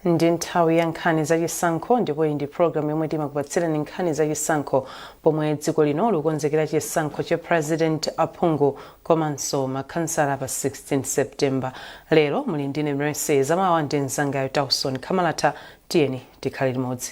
ndi nthawi ya nkhani za chisankho ndipo iyi ndi programu yomwe timakupatsirani nkhani za chisankho pomwe dziko lino likukonzekera chisankho cha president aphungu komanso makhansala pa 16 september lero muli ndine mercy zamawa ndi mzangayo tauson khamalata tiyeni tikhale limodzi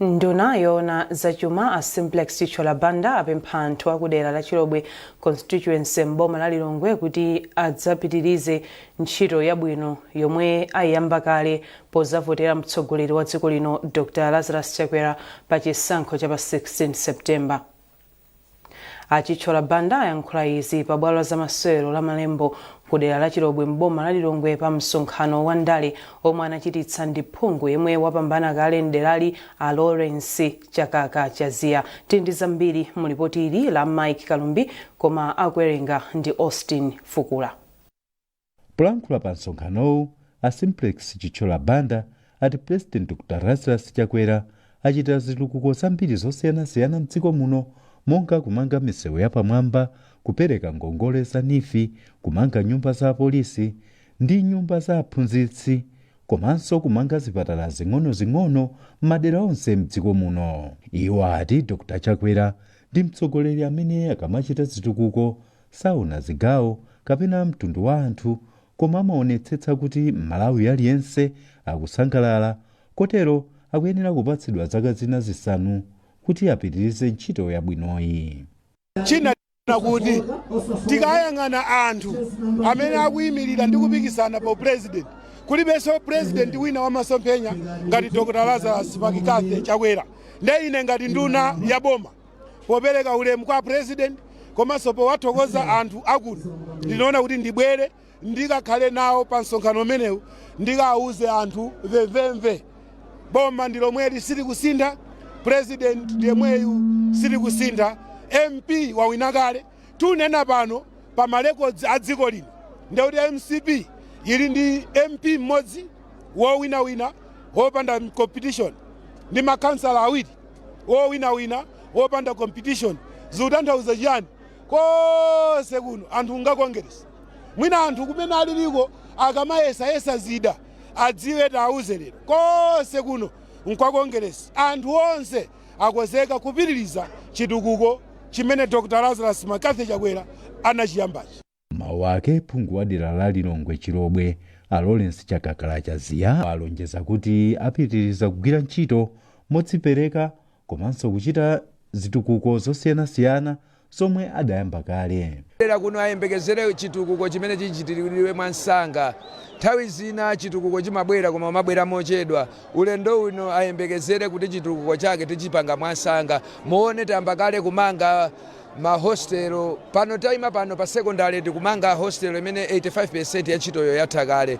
Nduna yoona zachuma a Simplex Chithyola Banda apempha anthu akudera la Chilobwe Constituency m'boma la Lilongwe kuti adzapitirize ntchito yabwino yomwe ayiyamba kale pozavotera mtsogoleri wa dziko lino Dr Lazarus Chakwera pa chisankho cha pa 16 September. A Chithyola Banda ayankhula izi pa bwalo la zamasewero la Malembo ku dera la Chilobwe m'boma la Lilongwe pa msonkhano wa ndale omwe anachititsa ndi phungu yemwe wapambana kale m'derali a Lawrence Chakaka Chaziya. Tili ndi zambiri mu lipoti ili la Mike Kalumbi koma akuwerenga ndi Austin Fukula. Polankhula pa msonkhanowu, a Simplex Chithyola Banda ati President Dr Lazarus Chakwera achita zitukuko zambiri zosiyanasiyana m'dziko muno monga kumanga misewu yapamwamba, kupereka ngongole za Neef, kumanga nyumba za apolisi ndi nyumba za aphunzitsi komanso kumanga zipatala zing'onozing'ono m'madera onse m'dziko muno. Iwo ati Dr Chakwera ndi mtsogoleri amene akamachita zitukuko Saona zigawo kapena mtundu wa anthu koma amaonetsetsa kuti m'Malawi aliyense akusangalala kotero akuyenera kupatsidwa zaka zina zisanu kuti apitirize ntchito yabwinoyi. China nchoona kuti tikayang'ana anthu amene akuimilira ndi kupikisana pa u president kulibenso president wina wa masomphenya ngati Dr Lazarus McCarthy Chakwera nde ine ngati nduna ya boma popereka ulemu kwa president komanso powathokoza anthu akuno ndinaona kuti ndibwere ndikakhale nawo pa msonkhano umenewu ndikawuze anthu vemvemve boma ndi lomweli silikusintha president ndiyemweyu sakusintha mp wawina kale Tikunena pano pa ma records a dziko lino nde kuti mcp yili ndi MP mmodzi wowinawina wopanda competition ndi makhansala awiri wowinawina wopanda competition zikutanthauza chiyani konse kuno anthu nga Congress mwina anthu kumene aliliko akamayesayesa zida adziwe tiwauze lero konse kuno nkwa Congress anthu onse akozeka kupitiliza chitukuko chimene Dr Lazarus McCarthy Chakwera anachiyambachi. M'mawu ake, phungu wa dera la Lilongwe Chilobwe, a Lawrence Chakakala Chaziya, alonjeza kuti apitiriza kugwira ntchito modzipereka komanso kuchita zitukuko zosiyanasiyana zomwe adayamba kale. dera kuno ayembekezere chitukuko chimene chichitiridwe mwansanga. Nthawi zina chitukuko chimabwera koma kumabwera mochedwa. Ulendo uno ayembekezere kuti chitukuko chake tichipanga mwansanga. Muone tayamba kale kumanga ma hostel. Pano taima pano pa secondary tikumanga hostel imene 85% ya ntchitoyo yatha kale.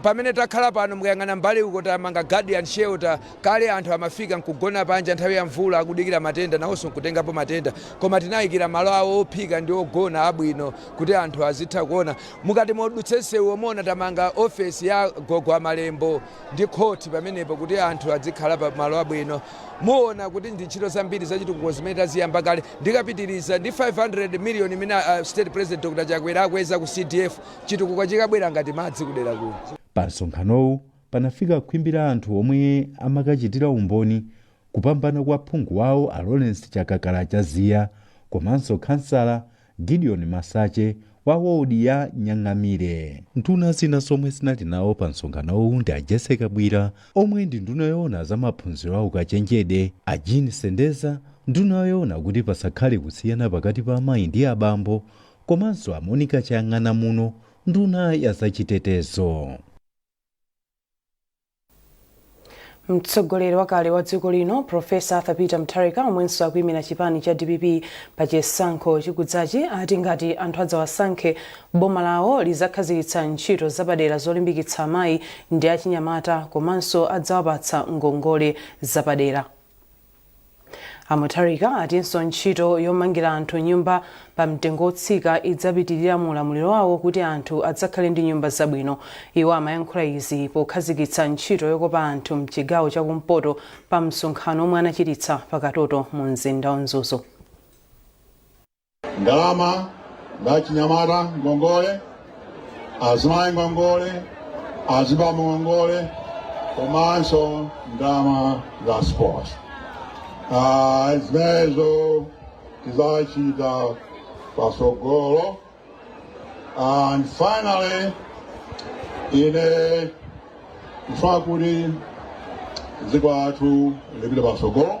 Pamene takhala pano mukayang'ana mbali uko tamanga guardian shelter. Kale anthu amafika n'kugona panja nthawi ya mvula akudikira matenda nawonso n'kutengapo matenda. Koma tinaikira malo awo ophika ndi ogona abwino kuti anthu azitha kuona. Mukati mudutse nsewuwo muona tamanga ofesi ya gogo a Malembo ndi khoti pamenepo kuti anthu adzikhala pa malo abwino. Muona kuti ndi ntchito zambiri zachitukuko zimene taziyamba kale. Ndikapitiriza ndi 500 miliyoni imene State President Dr Chakwera akweza ku CDF, chitukuko chikabwera ngati madzi kudera kuno. Pa msonkhanowu panafika khwimbi la anthu omwe amakachitira umboni kupambana kwa phungu wawo a Lawrence Chakakala Chaziya komanso khansala Gideon Masache wa wodi ya Nyang'amire. Nduna zina zomwe zinali nawo pa msonkhanowu ndi a Jessie Kabwila omwe ndi nduna yoona za maphunziro a ukachenjede, a Jean Sendeza, nduna yoona kuti pasakhale kusiyana pakati pa amayi ndi abambo komanso a Monica Chang'anamuno, nduna ya zachitetezo. mtsogoleri wakale wa dziko lino profesa arthur peter mutharika omwenso akuyimira chipani cha dpp pa chisankho chikudzachi ati ngati anthu adzawasankhe boma lawo lizakhazikitsa ntchito zapadera zolimbikitsa amayi ndi achinyamata komanso adzawapatsa ngongole zapadera A Mutharika atinso ntchito yomangira anthu nyumba pa mtengo wotsika idzapitilira mu ulamuliro wawo kuti anthu adzakhale ndi nyumba zabwino. Iwo amayankhula izi pokhazikitsa ntchito yokopa anthu mchigawo cha kumpoto pa msonkhano omwe anachititsa pa Katoto mu mzinda wa Mzuzu. ndalama za achinyamata ngongole, azimayi ngongole, azibambo ngongole komanso ndalama za sports. Zimenezo tizachita pasogolo and finally ine ndifuna kuti dziko lathu lipite pasogolo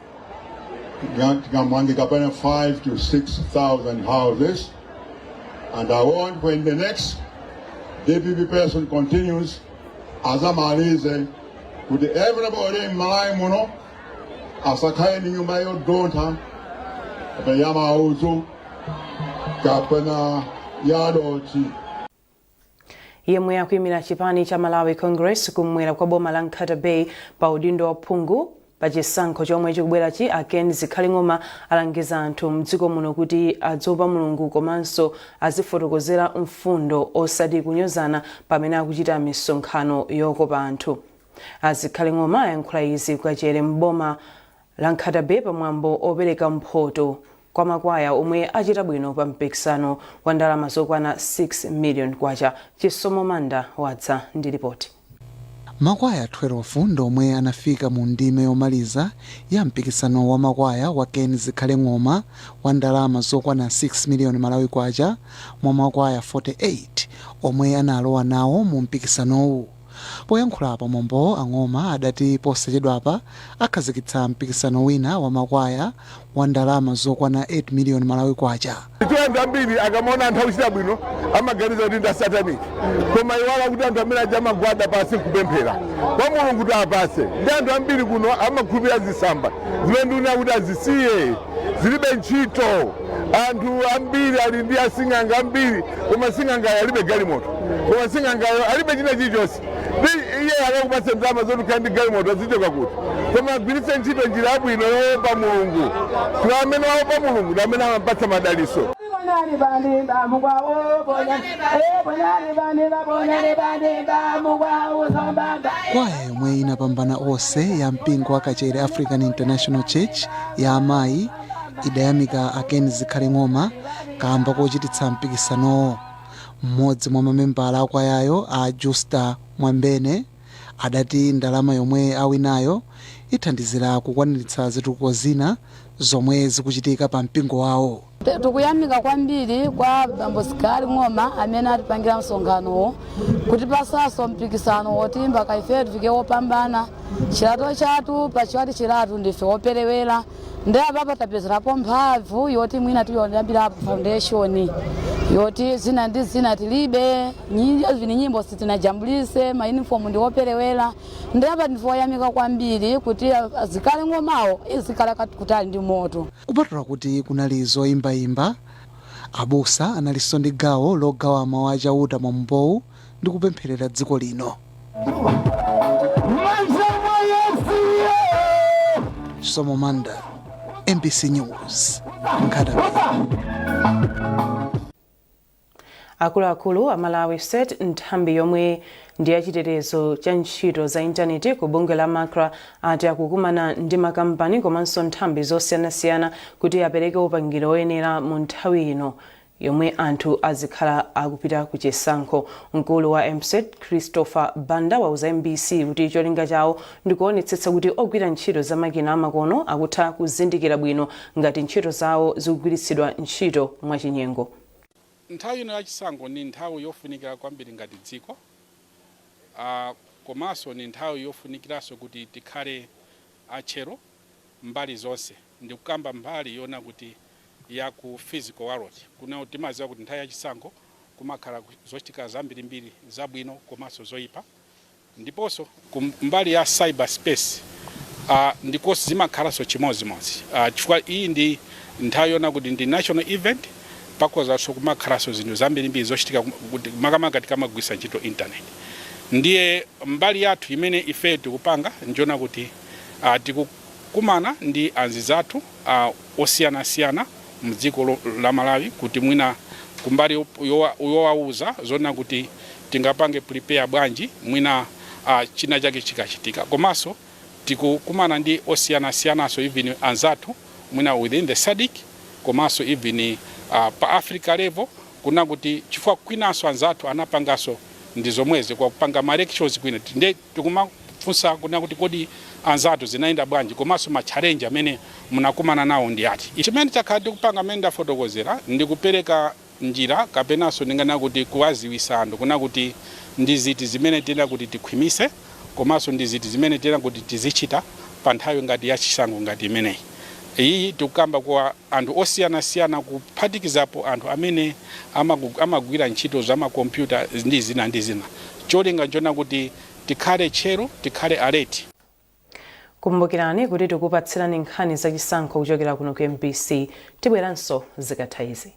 Tikamanga kapena 5 to 6,000 houses. And I want when the next DPP President continues, azamalize kuti everybody in Malawi muno asakhale ndi nyumba yodontha kapena ya maudzu kapena ya dothi. yemwe akuyimira chipani cha malawi congress kum'mwera kwa boma la nkhata bay pa udindo wa phungu pa chisankho chomwe chikubwerachi a ken zikhale ng'oma alangiza anthu mdziko muno kuti adziopa mulungu komanso azifotokozera mfundo osati kunyozana pamene akuchita misonkhano yokopa anthu azikhale ng'oma ayankhula izi kukachere m'boma la Nkhata-bay pa mwambo opereka mphoto kwa makwaya omwe achita bwino pa mpikisano wa ndalama zokwana 6 million kwacha. Chisomo Manda wadza ndi lipoti. Makwaya 12 ndi omwe anafika mu ndime yomaliza ya mpikisano wa makwaya wa Ken Zikhale Ng'oma wa ndalama zokwana 6 million Malawi Kwacha mwa makwaya 48 omwe analowa nawo mu mpikisanowu. Poyankhula pa mwambowo a Ng'oma adati posachedwapa akhazikitsa mpikisano wina wa makwaya wa ndalama zokwana 8 miliyoni Malawi Kwacha. Anthu ambiri akamaona anthu akuchita bwino amaganiza kuti ndi a satanic koma amaiwala kuti anthu amene aja amagwada pansi nkupemphera kwa mulungu kuti awapatse ndi anthu ambiri kuno amakhulupirira zisamba zimene ndikunena kuti azisiye. zilibe ntchito. Anthu ambiri ali ndi asing'anga ambiri, koma sing'angayo alibe galimoto, koma sing'angayo alibe china chilichonse. Ndiye akakupatse ndalama zoti ukhale ndi galimoto azichoka kuti? Koma agwiritse ntchito njira yabwino yoopa Mulungu. Kuti amene waopa Mulungu ndi amene amampatsa madalitso. Kwaya yomwe inapambana onse ya mpingo wa kachere african international church ya amayi idayamika a Ken Zikhale Ng'oma kaamba kochititsa mpikisanowo. Mmodzi mwa mamembala akwayayo a Justa Mwambene adati ndalama yomwe awinayo ithandizira kukwaniritsa zitukuko zina zomwe zikuchitika pa mpingo wawo. Tikuyamika kwambiri kwa Bambo Zikhale Ng'oma amene atipangira msonkhanowu kutipasanso mpikisano woti mpaka ife tifike wopambana chilato chathu pachiwati chilatu ndife woperewera ndi apapa tapezerapo mphamvu yoti mwina tiyambirapo foundation yoti zina ndi zina tilibe nyimbo zivinye nyimbo sitinajambulise mayunifomu ndi woperewera Ndiye apa ndife oyamika kwambiri kuti azikhale ng'omawo izikhala kat- kutali ndi moto. Kupatula kuti kunali zoimbaimba, abusa analinso ndi gawo logawa Mawu a Chauta mwambowu ndi kupempherera dziko lino. Chisomo Manda, MBC News, Nkhatabay. Akuluakulu a Malawi CERT Nthambi yomwe ndi ya chitetezo cha ntchito za intaneti ku bungwe la MACRA ati akukumana ndi makampani komanso nthambi zosiyanasiyana kuti apereke upangiri oyenera mu nthawi ino yomwe anthu azikhala akupita ku chisankho. Mkulu wa MwCERT Christopher Banda wauza MBC kuti cholinga chawo ndi kuonetsetsa kuti ogwira ntchito za makina amakono akutha kuzindikira bwino ngati ntchito zawo zikugwiritsidwa ntchito mwachinyengo. Nthawi ino ya chisankho ndi nthawi yofunikira kwambiri ngati dziko komanso ndi nthawi yofunikiranso kuti tikhale a tcheru mbali zonse. Ndikukamba mbali yoona kuti ya ku physical world kunena kuti timadziwa kuti nthawi ya chisankho kumakhala zochitika zambirimbiri zabwino komanso zoipa. Ndiponso ku mbali ya cyber space a ndikonso zimakhalanso chimodzimodzi a chifukwa iyi ndi nthawi yoona kuti ndi national event pakhozanso kumakhalanso zinthu zambirimbiri zochitika kum- kuti- makamaka tikamagwiritsa ntchito internet ndiye mbali yathu imene ife tikupanga njoona kuti a tikukumana ndi anzizathu a osiyanasiyana mdziko la Malawi kuti mwina kumbali yowauza zonena kuti tingapange prepare bwanji mwina china chake chikachitika komanso tikukumana ndi osiyanasiyananso even anzathu mwina within the SADC komanso even pa Africa level kunena kuti chifukwa kwinanso anzathu anapanganso ndi zomwezi kwa kupanga ma elections kwina nde Tikumafunsa kunena kuti kodi anzathu zinayenda bwanji komanso ma challenge amene munakumana nawo ndi ati? Chimene takhala tikupanga mmene ndafotokozera ndi kupereka njira kapenanso ndinganena kuti kuwaziwisa anthu kunena kuti ndi ziti zimene tiyenera kuti tikhwimise komanso ndi ziti zimene tiyenera kuti tizichita pa nthawi ngati ya chisankho ngati imeneyi. Iyiyi tikukamba kwa anthu osiyanasiyana kuphatikizapo anthu amene amagu- amagwira ntchito za makompyuta ndi zina ndi zina cholinga nchona kuti tikhale tcheru tikhale alert Kumbukirani kuti tikupatsirani nkhani za chisankho kuchokera kuno ku MBC. Tibweranso zikatha izi.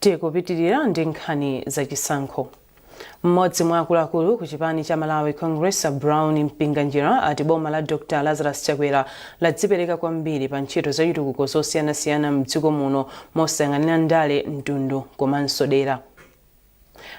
tikupitirira ndi nkhani za chisankho mmodzi mwa akuluakulu ku chipani cha Malawi Congress a Brown Mpinganjira ati boma la Dr Lazarus Chakwera ladzipereka kwambiri pa ntchito za chitukuko zosiyanasiyana mdziko muno mosayang'anira ndale mtundu komanso dera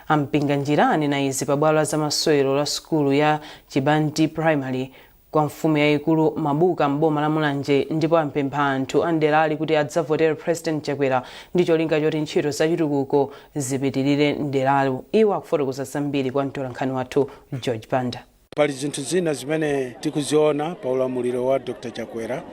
A Mpinganjira anena izi pa bwalo la zamasewero la sukulu ya Chibathi Primary kwa mfumu yayikulu Mabuka m'boma la Mulanje ndipo apempha anthu a m'derali kuti adzavotere President Chakwera ndi cholinga choti ntchito za chitukuko zipitilire m'deralo. Iwo akufotokoza zambiri kwa mtolankhani wathu George Banda. pali zinthu zina zimene tikuziona pa ulamuliro wa dr chakwera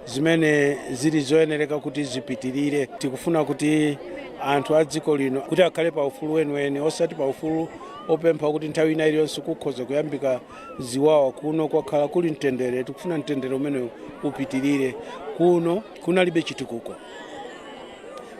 zimene zili zoyenereka kuti zipitirire tikufuna kuti anthu a dziko lino kuti akhale pa ufulu weniweni osati pa ufulu wopempha wakuti nthawi ina iliyonse kukhoza kuyambika ziwawa kuno kwakhala kuli mtendere tikufuna mtendere umenewu upitirire kuno kunalibe chitukuko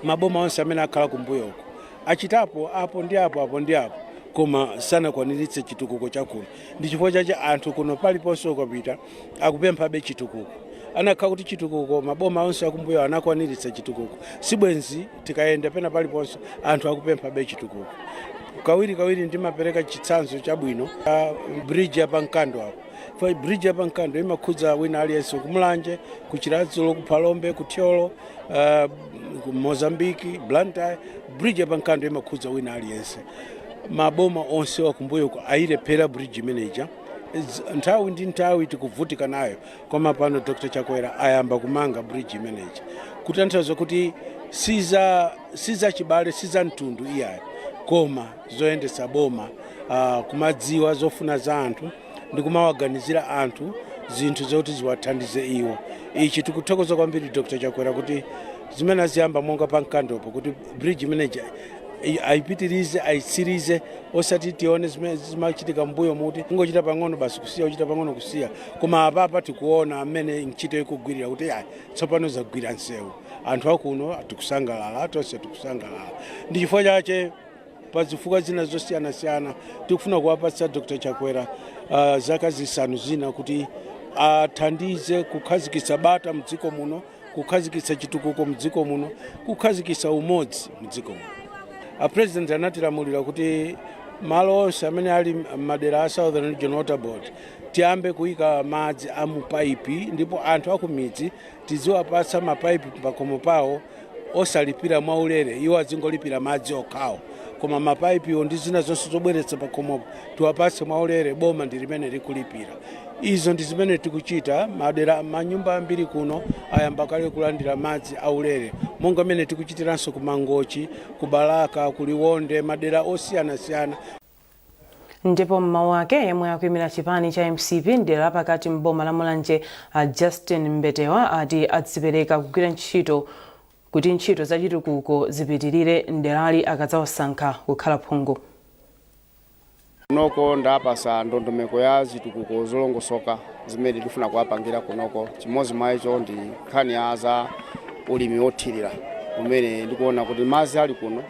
maboma onse amene akhala kumbuyoko achitapo apo ndi apo apo ndi apo koma sanakwaniritse chitukuko chakuno ndi chifukwa chache anthu kuno paliponse ukapita akupemphabe chitukuko anakakhala kuti chitukuko maboma onse akumbuyo anakwaniritsa chitukuko sibwenzi tikayenda pena paliponse anthu akupemphabe chitukuko kawiri kawiri ndimapereka chitsanzo chabwino cha bridge ya pa Nkando apo Fa- bridge ya pa Nkando imakhudza wina aliyense kumulanje ku Chiradzulo kuphalombe kuthyolo uh, ku mozambiki blantyre bridge ya pa Nkando imakhudza wina aliyense maboma onse akumbuyoku ayilephera bridge imeneja Z- nthawi ndi nthawi tikuvutika nayo koma pano dr chakwera ayamba kumanga bridge imeneja kutanthauza kuti si za si za chibale si za mtundu iyayi koma zoyendetsa boma uh, kumadziwa zofuna za anthu ndi kumawaganizira anthu zinthu zoti ziwathandize iwo ichi tikuthokoza kwambiri dr chakwera kuti zimene aziyamba monga pa Nkandopo kuti bridge imeneija i- ayipitirize ayitsirize osati tione zimene zimachitika m'mbuyomu kuti kungochita pang'ono basi kusiya kuchita pang'ono kusiya koma apapa tikuona mmene ntchito ikugwirira kuti ayi tsopano zagwira nsewu anthu akuno tikusangalala tonse tikusangalala ndi chifukwa chache pa zifukwa zina zosiyanasiyana tikufuna kuwapatsa dr chakwera uh, zaka zisanu zina kuti athandize kukhazikitsa bata mdziko muno kukhazikitsa chitukuko mdziko muno kukhazikitsa umodzi mdziko muno apresident anatilamulira kuti malo onse amene ali mmadera a southern region water board tiyambe kuyika madzi a mupaipi ndipo anthu akumidzi tiziwapatsa mapaipi pakhomo pawo osalipira mwaulere iwo azingolipira madzi okhawo koma mapaipiwo ndi zina zonse zobweretsa pakhomopo tiwapatse mwaulere boma ndi limene likulipira izo ndi zimene tikuchita madera manyumba ambiri kuno ayamba kale kulandira madzi aulere monga mmene tikuchitiranso ku mangochi ku balaka ku liwonde madera osiyanasiyana ndipo m'mawu ake yemwe akuimira chipani cha mcp mdera lapakati m'boma la mulanje a justin mbetewa ati adzipereka kugwira ntchito kuti ntchito za chitukuko zipitirire mderali akadzawasankha kukhala phungu kunoko ndaapasa ndondomeko ya zitukuko zolongosoka zimene ndifuna kuwapangira kunoko chimodzi mwa izo ndi nkhani ya za ulimi wothirira umene ndikuona kuti madzi ali kuno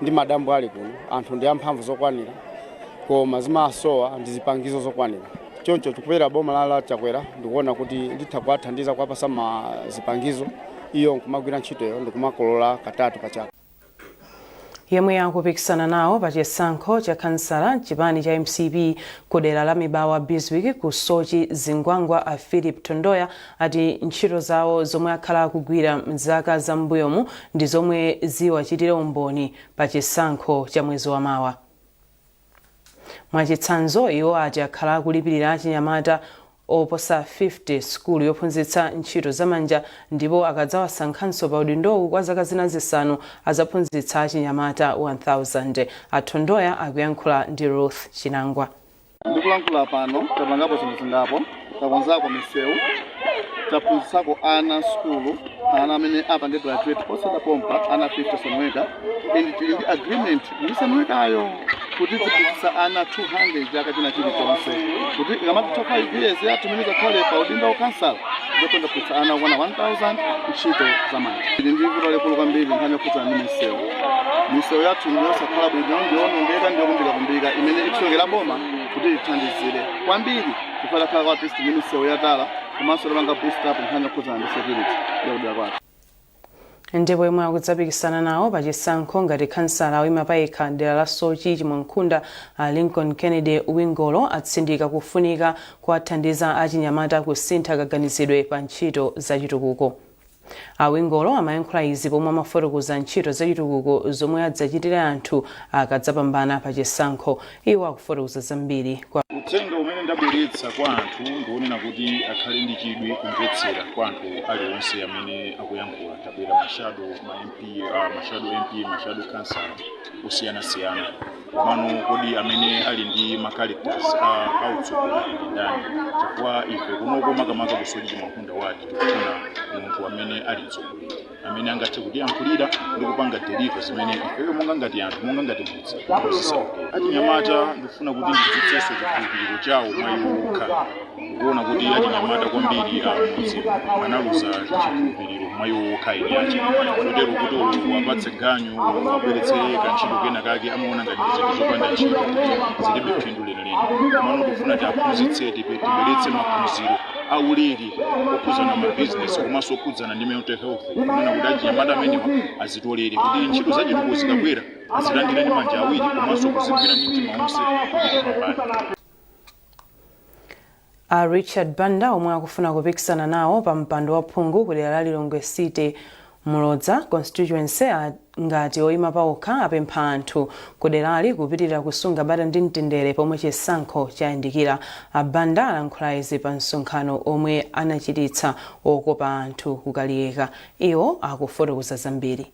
ndi madambo ali kuno anthu ndi amphamvu zokwanira koma zimasowa ndi zipangizo zokwanira choncho tikupeza boma la la chakwera ndikuona kuti litha kuwathandiza kuwapasa ma zipangizo iwo nkumagwira ntchitoyo ndikumakolola katatu pa chaka yemwe akupikisana nawo pa chisankho cha khansala chipani cha mcp ku dera la mibawa biswick ku sochi zingwangwa a philip thondoya ati ntchito zawo zomwe akhala akugwira m'zaka za m'mbuyomu ndi zomwe ziwachitire umboni pa chisankho cha mwezi wa mawa. Mwachitsanzo, iwo ati akhala akulipirira achinyamata oposa 50 sukulu yophunzitsa ntchito zamanja ndipo akadzawasankhanso pa udindowu kwa zaka zina zisanu azaphunzitsa achinyamata 1000. A Thondoya akuyankhula ndi Ruth Chinangwa. Ndikulankhula pano tapangapo zinthu zingapo, takonzako misewu, taphunzitsako ana sukulu, ana amene apange graduate posachedwa pompa ana 50 Sanwecka, and tili ndi agreement ndi Sanweckayo kuti tiphunzitsa ana 200 chaka china chilichonse kuti ikamatha 5 years yathu imene takhale pa udindo wa kansala ndithe kuphunzitsa ana okwana 1000 ntchito za manja tili ndi vuto lalikulu kwambiri nkhani yokhudzana ndi misewu misewu yathu ndi yosakhala bwino ndiyoonongeka ndiyokumbikakumbika imene ikusowekera boma kuti lithandizire kwambiri chifukwa takhala kwa artist ndi misewu yatala komanso tapanga boost up nkhani yokhudzana ndi security yakudera kwathu ndipo yemwe akudzapikisana nawo pa chisankho ngati khansala oyima payekha dera la sochi chimwankhunda a lincoln kennedy wingolo atsindika kufunika kuwathandiza achinyamata kusintha kaganizidwe pa ntchito zachitukuko a wingolo amayankhula izi pomwe amafotokoza ntchito zachitukuko zomwe adzachitire anthu akadzapambana pa chisankho Iwo akufotokoza zambiri. Uthenga umene ndabweretsa kwa anthu ndiwonena kuti akhale ndi chidwi kumvetsera kwa anthu alionse amene akuyankhula. Tabwera mashado ma MP, uh, mashado MP, mashado khansala osiyanasiyana. Komano kodi amene ali ndi ma characters a utsogoleri ndi ndani? Chifukwa ife kunoko makamaka ku Soche Chimwankhunda wadi tikufuna munthu amene ali mtsogoleri. amene angathe kutiyankhulira ndi kupanga deliver zimene ifeyo monga ngati anthu monga ngati mudzi zisakuti achinyamata ndikufuna kuti ndidzutsenso chikhulupiriro chawo mwa iwo okha kuona kuti achinyamata kwambiri amudzi analuza chikhulupiriro mwa iwo okha eni ache kotero kuti olo uwapatse ganyu uwabweretsere kantchito kena kake amaona ngati ndi zinthu zopanda ntchito zilibe phindu lenileni komano tikufuna tiwaphunzitse tipe- tibweretse maphunziro aulere okhudzana ma business komanso okhudzana ndi mental health kunena kuti achinyamata amenewa azitolere kuti ntchito zachitukuko zikabwera azilandire ndi manja awiri komanso kuzigwira ndi mtima wonse kuti tipambane a richard banda omwe akufuna kupikisana nawo pa mpando wa phungu ku dera la lilongwe city Mulodza constituency ngati oyima paokha apempha anthu kuderali kupitiriza kusunga bata ndi mtendere pomwe chisankho chayandikira. A Banda alankhula izi pa msonkhano omwe anachititsa okopa anthu ku Kaliyeka. Iwo akufotokoza zambiri.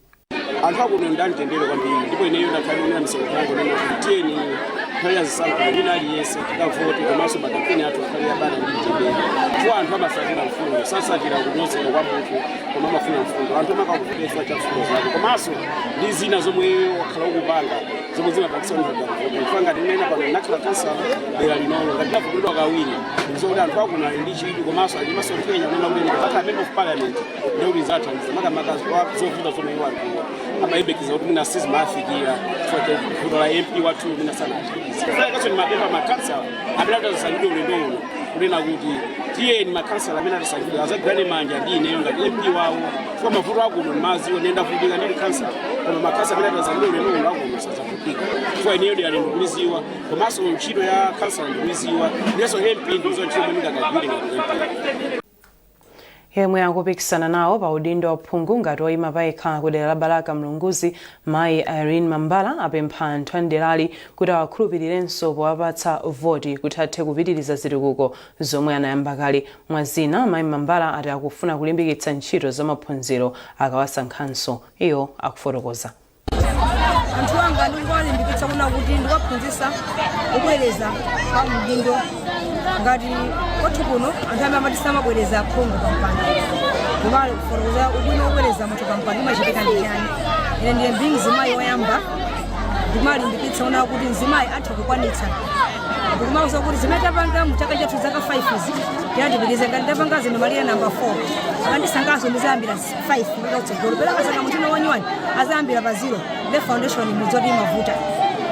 Anthu akuno ndi amtendere kwambiri ndipo ineyo ndakhala ndikuwuza misonkhano yanga kunena kuti tiyeni nthawi ya zisankho wina aliyense tikavote komanso makampeni athu akhale abata ndi mtendere chifukwa anthu amasatira mfundo sasatira kunyozedwa kwa munthu koma amafuna mfundo anthu amakakuvotera cha mfundo zako komanso ndi zina zomwe wakhala ukupanga zomwe zimapangisa mfanga ngati mene pano ndakhala khansala dera linolo ngati ndavoteredwa kawiri ndizokuti anthu akuno ali ndi chidwi komanso ali ndi masomphenya kunena kuti ndikakhala member of parliament ndekuti zathandiza makamaka zovuta zomwe iwo anthu amayembekeza kuti mwina sizimafikira chifukwa cha vuto la mp wathu mwina sana kaso ndimapempha makhansala amene atasankhidwe ulendo uno kunena kuti tiyeni makhansala amene atasankhidwe azagwirane manja ndi ineyo ngati mp wawo chifukwa mavuto akuno ndimawadziwa ndavutika ndili khansala koma makhansala amene atasankhidwe ulendo uno akuno sazavutika chifukwa ineyo derali ndikuliziwa komanso ntchito ya khansala ndikuyiziwa ndiyenso mp ndikuziwa ntchito imene ndingakagwire ngati mp yemwe akupikisana nawo pa udindo wa phungu ngati oyima payekha ku dera la balaka mlunguzi mayi irene mambala apempha anthu a mderali kuti awakhulupirirenso powapatsa voti kuti athe kupitiriza zitukuko zomwe anayamba kale mwa zina mayi mambala ati akufuna kulimbikitsa ntchito za maphunziro akawasankhanso iwo akufotokoza anthu anga ndikuwalimbikitsa kunena kuti ndikuwaphunzisa kubwereza pa udindo ngati kwathu kuno anthu amati samabwereza phungu pa mpando ndimawafotokozera ubwino wobwereza munthu pa mpando imachitika ndi chani ine ndiye ndi mzimayi woyamba ndimawalimbikitsa kunena kuti mzimayi atha kukwanitsa ndikumawauza kuti zimene tapanga mu zaka zathu zaka 5 izi tiyeni tipitirize ngati tapanga zino malire namba 4 akandisankhaso ndizayambira 5 kupita kutsogolo bola akasankha munthu wina wanyuwani adzayambira pa zero nde foundation mudziwa kuti imavuta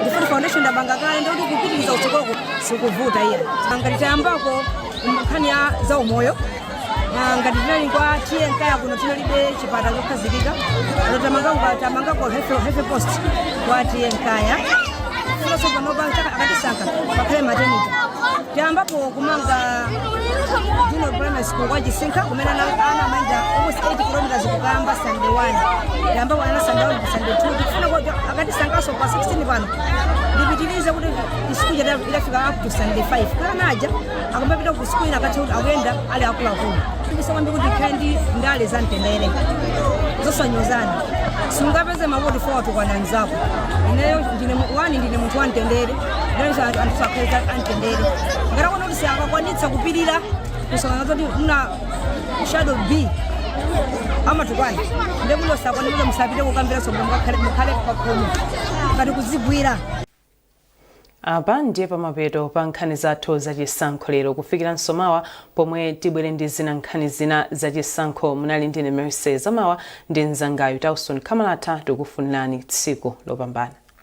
ndiye poti foundation ndapanga kale ndikuti kupitiriza kutsogoloko sikuvuta iya ngati tayambako nkhani ya za umoyo Ah, ngati tinali kwa tiye nkaya kuno tinalibe chipata chokhazikika ano tamangako health post kwa tiye nkaya kunaso panopa akatisankha pakhale maternity tiyambapo kumanga junior primary school kwa chisinkha kumene ana ana amayenda almost 8 kilometers kukayamba standard 1 tiyambako ana standard 1 ku standard 2 tikufuna kuti akatisankhaso pa 16 pano ndipitirize kuti sukulu ija idza- idzafike up to standard 5 kuti ana aja akamapita ku sukulu ina akakhale kuti akuyenda ali akuluakulu tikusowa kwambiri kuti ikhale ndi ndale za mtendere zosanyozana sungapeze mavoti poti watukwana mzako ineyo ndine mu- wani ndine munthu wa mtendere Lero anthu anthu azikhala amtendere. Ngati akuona kuti sakakwanitsa kupirira kumsonkhano zoti wina shadow MP amatukwana ndiye kuno sakwanitsa musapite kukampeni komko mukakhale mukhale pakhomo ngati kuzigwira apa ndiye pamapeto pa nkhani zathu zachisankho lero kufikiranso mawa pomwe tibwere ndi zina nkhani zina zachisankho munali ndine mercy zamawa ndi mzangayo tausoni khamalatha tikufunirani tsiku lopambana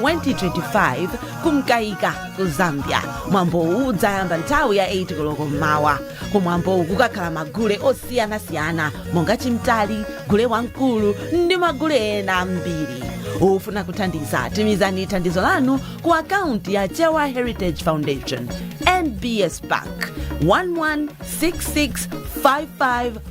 2025 kumkaika ku zambia mwambowu udzayamba nthawi ya 8 koloko mmawa kumwambowu kukakhala magule osiyanasiyana monga chimtali gule wamkulu ndi magule ena ambiri ofuna kuthandiza tumizani thandizo lanu ku akaunti ya chewa heritage foundation nbs bank 116655